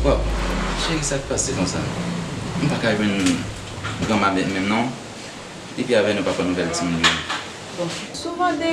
Waww cheri sak pase konsa m paka jwenn gran babet menm non depi avè nou pa pran nouvel timoun yo. Bon souvan de.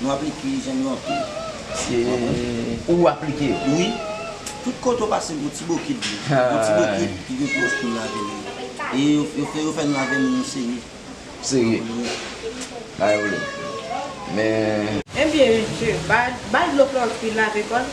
Nou aplike zen yo anpil. Se pou ou aplike yo? Wi. Tout kote ou pase gen yon ti bokit dlo. Yon ti bokit ki gen pou wòch pou nou lave men nou. E yo fè nou lave men nou serye. Serye? Pa gen pwoblèm. Men. Enbyen mesye, ba l dlo pou l anpil lave kò l.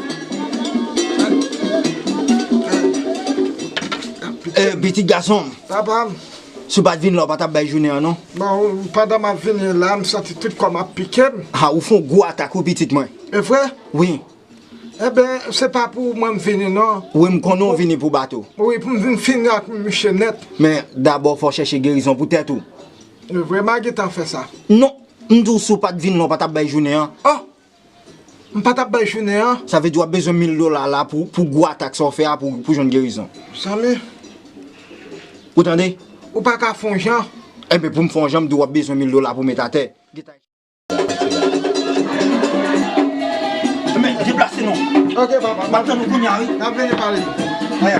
Ee pitit gason m. Papa m. Si w pa t vin la w pa t ap bay jounen an non. Bon, pandan m ap vini la, m santi tout kò m ap pike m. Ha, ou fè yon gwo atak wi pitit mwen. E vre? Wi. Enben, se pa pou mwen m vini non. Wi, m konnen w vini pou bato. Wi, pou m vin fini ak miche nèt. Men, dabò fò w chèche gerizon pou tèt ou. E vre, m a gentan fè sa. Non, m di w si w pa t vin la w pa t ap bay jounen an. Oh! M pa tap bay jounen an. Sa vle di wap bezwen mil dola la pou gwo atak sa w fè a pou w jwenn gerizon. Zanmi. Ou tande? Ou pa ka fon jan. Enben pou m fon jan m di w wap bezwen mil dola pou w met atè. Enben deplase nou. Ok papa. Map tann ou kounye a wi. Nap vini pale. Aya.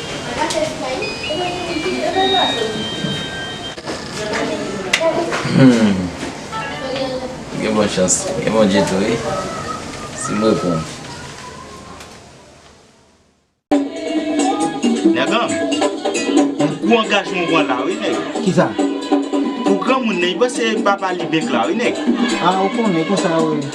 Gen bon chans, gen Bondye tou wi, si m reponn. Nèganm, yon gwo angajman w pran la wi nèg. Kisa? Pou granmoun nan, li panse papa li bèk la wi nèg. A ou konnen konsa ou ye.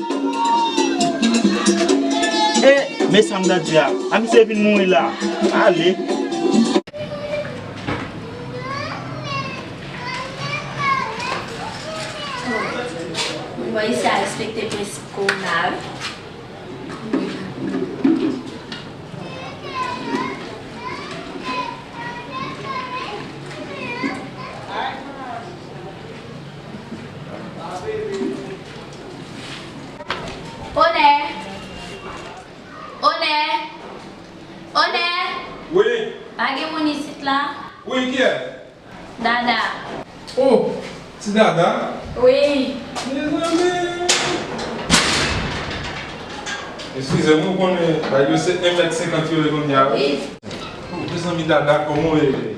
Eh men sam gad di a. A misye vin mouri la. Ale. Onè! Onè! Onè! Wi! Pa gen moun isit la? Wi, kiyès? Dada. O! Ti Dada? Wi! Mezanmi! Eskize m, ou konnen bagay yo se 1 mèt 50 yo ye kounya wi. Wi! O! Mezanmi Dada, kòman ou ye?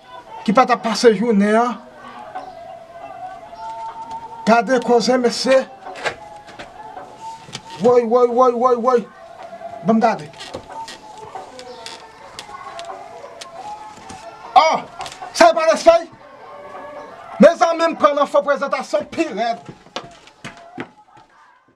ki pa ta pase jounen an gade koze mesye woy woy woy woy woy banm gade oh sa yo pa res fèy mezanmi m pran nan fo prezantasyon pi rèd.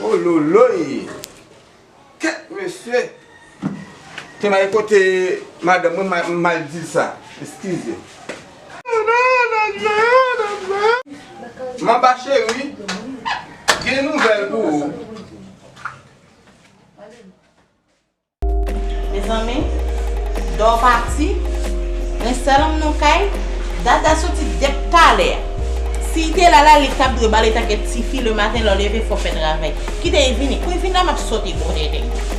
Wololoyy! Kèt mesye! Ton Aye kote madanm mwen m mal di l sa. Eskize. Manba cheri, gen nouvèl pou ou. Mezanmi Dor pati Mwen sèl m nan kay Dada soti dep talè Siy te la la li tap dwe bal etan ke tifi le maten lè w leve fò w fè travay Kite y vini Kou y vin la map soti bon tenten.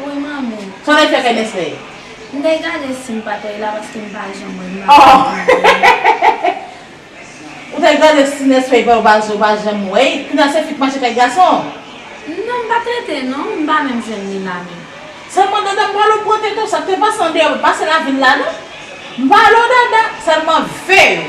Ui manmi. Son efè fè mens fè. M te gade sim pat wè la paske m pa janm wè m ap gade manzè. Ou te gade si nens fè vè ou pa ou pa janm wè y kounya se fi k mache kay gason. Non m pa trete non m pa menm jwenn li la menm. Selman dada m pa wè pran tete w sak te pase andeyò pa pase lavil la non. M pa wè w dada selman vè yo.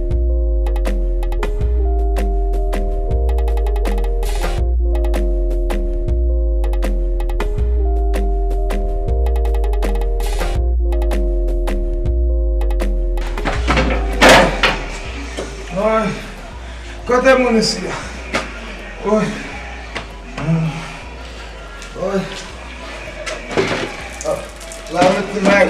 Kote moun isi ya? Oye! Oye! La mèt ki mèt!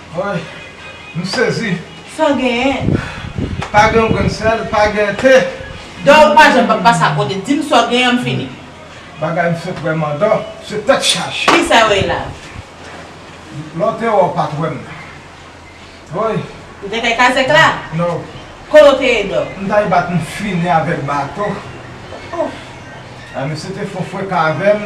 Woy m sezi. San genyen. Pa gen yon grenn sèl, pa gen te. Dò ou pa janm pa pase a kote. Di m sa w genyen an m fini. Bagay m sot wè mandò, se tèt chaje. Kisa yo ye la a? Lè w te wè w pa t wè m. Woy. Ou te kay kazèk la? Non. Kote w te ye dò? M ta ye bat m fini avèk bato. Ouf. Mesye te fon freka avè m,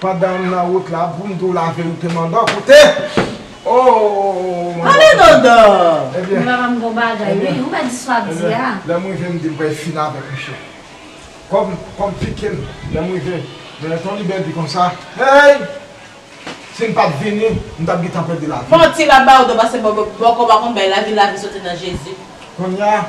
Pandan m nan wout la poum di w la verite Mandò koute ooh Mandò Ale Mandò Ebyen Papa m gon bagay wi ou pa di sa w ap di a Lè m rive m di m pral fini avèk misye Kòm kòm pike m lè m rive men lè Tony Bell di konsa Hey si m pat vini m tap gintan pèdi lavi m. Manti lap ba ou do pase bòkò pa konn bay lavi lavi soti nan Jezi. Konnya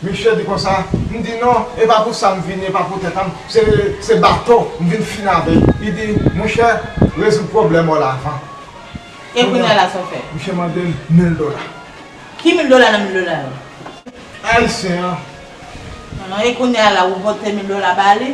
Misye di konsa, m di non, e pa pou sa m vini, e pa pou tèt a m, se, se bato m vin fini avè l. Li di, monchè, rezoud pwoblèm ou la avan. E kounya la sa w fè? Misye mande m mil dola. Ki mil dola nan mil dola yo? Ayisyen an. E kounya la ou pote mil dola ba li?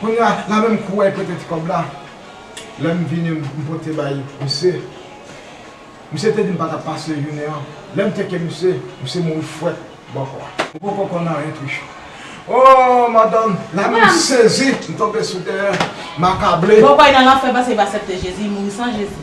Kounya la menm kou wèy prete ti kòb la lèm vini m pote bay misye misye te dim pa tap pase jounen an lèm teke misye misye mouri fwèt bòkò a. Ou poko konn anyen Trichou. Ooh madanm la menm sezi m tonbe sou tè m akable. Bòkò y nan lanfè paske li pa sèpte Jezi li mouri san Jezi.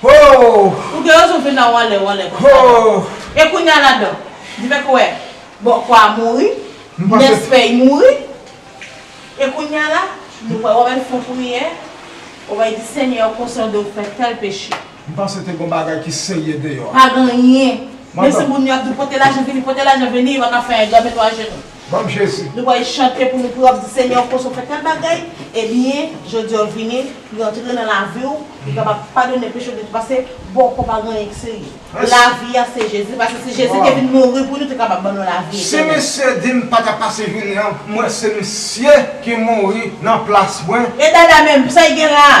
Hoo! Ou gen rezon vin la wanlè wanlè konsa la. Hoo! E kounya la dan? Di fè kouwè. Bon kwa a mouri. M panse. Nès fèy mouri. E kounya la? Nou pral wè menm fon priyè. Ou bay di senyè ou konsyan de ou fè tèl peche. M panse te gon bagay ki serye deyò a. Pa gen anyen. Menm si moun yo ap di w pote lajan vini pote lajan vini yo pa ka fè yon granmen nou ajenou. banm jezi. Nou bay chante pou nou pou ap di senyè ou koz ou fè tèl bagay ebyen jodi ou vini li antre nan laviw li kapab padone pechew depi pase bon kon pa gen anyen ki serye lavi a se jezi pase si jezi te vin mouri pou nou te kapab ban nou lavi etènèl. Si misye dim pata pase vini an mwen se misye ki mouri nan plas mwen. E dada menm, sa e gen la a?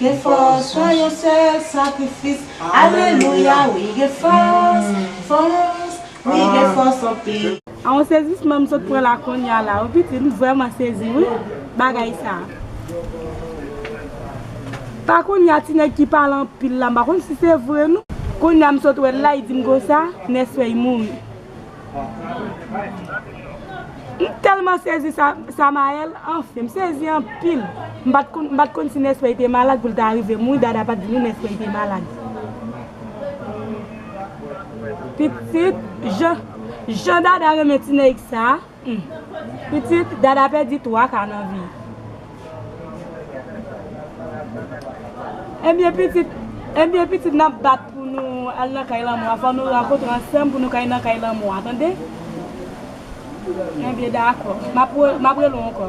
Gen fòs nan yon sèl sakrifis alelouya wi gen fòs fòs wi gen fòs anpil. A yon sezisman m sot pran la konnya la wi pitit m vrèman sezi wi bagay sa pa konnya ti nèg ki pale anpil la m pa konn si se vre non konnya m sot wèl la li dim konsa nèsfèy mouri M telman sezi Samael anfen m sezi anpil m pat konn si Neswey te malad pou l ta rive mouri Dada pat di nou Neswey te malad pitit jan Dada renmen ti nèg sa. Pitit dada pèdi 3 ka nan vi. Ebyen pitit Ebyen pitit nap bat pou nou al nan kay lanmò a fò nou rankontre ansanm pou nou ka nan kay lanmò a tande Ebyen dakò map rele w ankò.